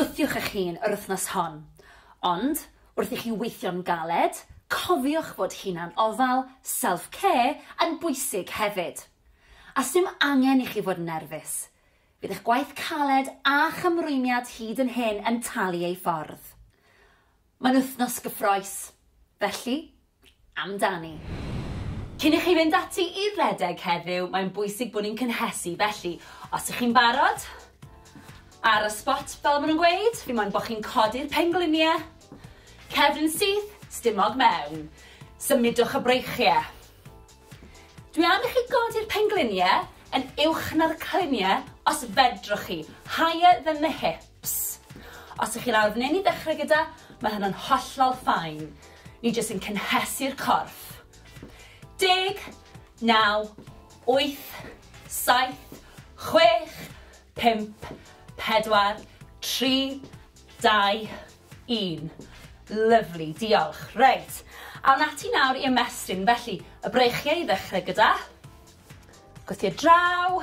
Gwthiwch eich hun yr wythnos hon, ond wrth i chi weithio'n galed, cofiwch fod hunan ofal, self care, yn bwysig hefyd. A sdim angen i chi fod yn nerfus. Bydd eich gwaith caled a'ch ymrwymiad hyd yn hyn yn talu ei ffordd. Mae'n wythnos gyffroes, felly amdani. Cyn i chi fynd ati i redeg heddiw, mae'n bwysig bod ni'n cynhesu, felly, os ych chi'n barod, ar y spot, fel maen nhw'n gweud, fi moyn bod chi'n codi'r pengliniau, cefn syth, stumog mewn, symudwch y breichiau. Dwi am i chi godi'r pengliniau yn uwch na'r cliniau os fedrwch chi, higher than the hip. Ps. Os ych chi'n arwrneini ddechrau gyda, mae hynna'n hollol fine. Ni jyst yn cynhesu'r corff. Deg, naw, wyth, saith, chwech, pump, pedwar, tri, dau, un. Lyfli, diolch. Reit, awn ati nawr i ymestyn. Felly, y breichiau i ddechrau gyda. Gwthio draw.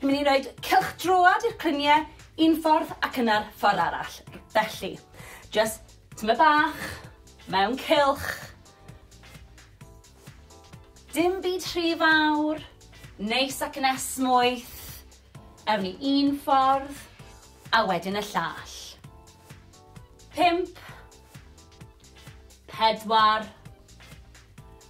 Ni'n mynd i roed cylch droad i'r clunie un ffordd ac yna'r ffordd arall. Felly, just tyma bach, mewn cylch. Dim byd rhy fawr, neis ac yn esmwyth. Ewn ni un ffordd, a wedyn y llall. Pimp. Pedwar.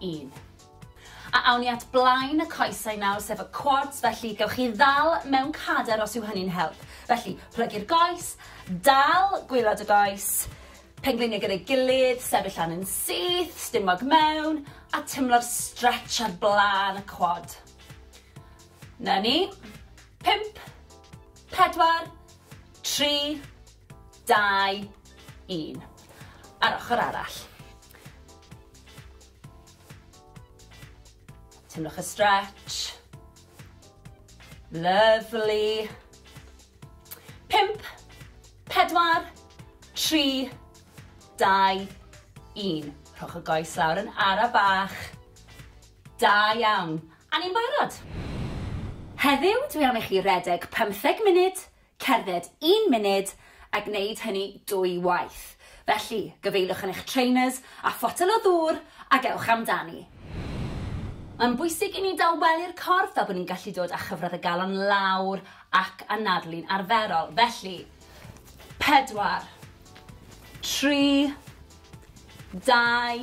un. A awn ni at blaen y coesau nawr, sef y quads, felly gewch chi ddal mewn cader os yw hynny'n help. Felly, plygu'r goes, dal gwylod y goes, pengliniau gyda'i gilydd, sefyll lan yn syth, stumog mewn, a tymlo'r stretch ar blaen y quad. Na ni. Pimp, pedwar, tri, dau, un. A'r ochr arall. Teimlwch y stretch. Lovely. Pimp, pedwar, tri, dau, un. Rhowch y goes lawr yn ara bach. Da iawn. A ni'n barod. Heddiw, dwi am i chi redeg 15 munud cerdded un munud a gwneud hynny dwy waith. Felly, gyfeiliwch yn eich trainers a photel o ddŵr ac ewch amdani. Mae'n bwysig i ni dawelu'r corff fel bod ni'n gallu dod â chyfradd y galon lawr ac anadlu'n arferol. Felly, pedwar, tri, dau,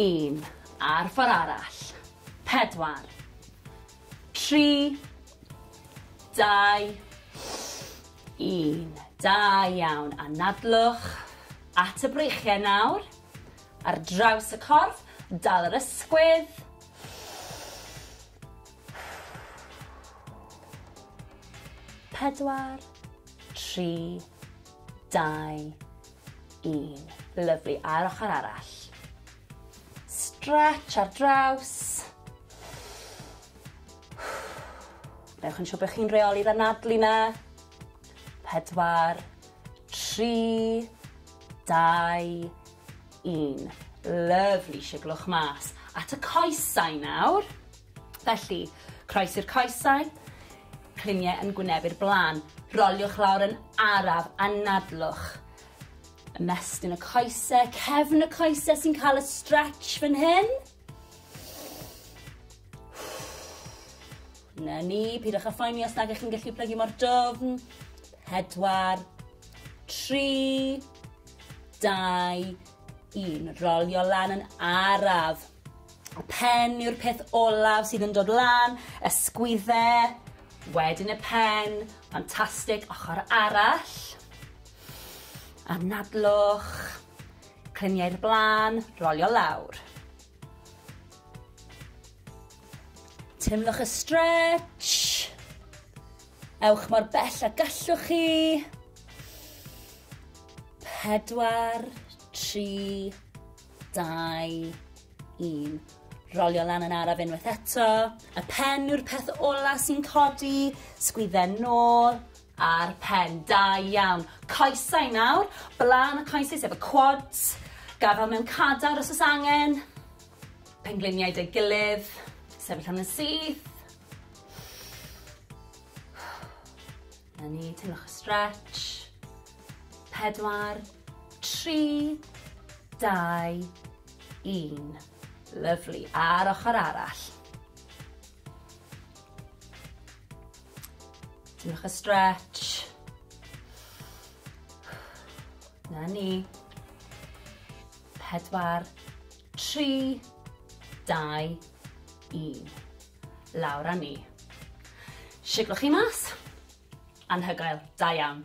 un. A'r ffordd arall. Pedwar, tri, dau, un. Da iawn. Anadlwch at y breichiau nawr. Ar draws y corff, dal yr ysgwydd. Pedwar, tri, dau, un. Lyflu. A'r ochr arall. Stretch ar draws. Newch yn siŵr bod chi'n reoli'r anadlu 'na. Pedwar, tri, dau, un. Lyfli, siglwch mas at y coesau nawr. Felly, croes i'r coesau, cliniau yn gwynebu'r blaen. Roliwch lawr yn araf, anadlwch. Ymestyn y coesau, cefn y coesau sy'n cael y stretch fan hyn. Na ni, pidwch â phoeni os nag ych chi'n gallu plygu mor dofn. Pedwar, tri, dau, un. Rolio lan yn araf. Y pen yw'r peth olaf sydd yn dod lan, y sgwydde, wedyn y pen, ffantastig, ochr arall. Anadlwch, Clymu i'r blaen, rolio lawr. Teimlwch y stretch. Ewch mor bell a gallwch chi. Pedwar, tri, dau, un. Rolio lan yn araf unwaith eto. Y pen yw'r peth ola sy'n codi. Sgwydden nôl. Ar pen, da iawn. Coesau nawr, blaen y coesau sef y quads, gafal mewn cadar os oes angen, pengliniau dy gilydd, sefyll am yn syth. Na ni, teimlwch y stretch. Pedwar, tri, dau, un. Lyflu, a'r ochr arall. Diolch y stretch. Na ni. Pedwar, tri, dau, un. Lawr a ni. Siglwch chi mas. Anhygoel, da iawn.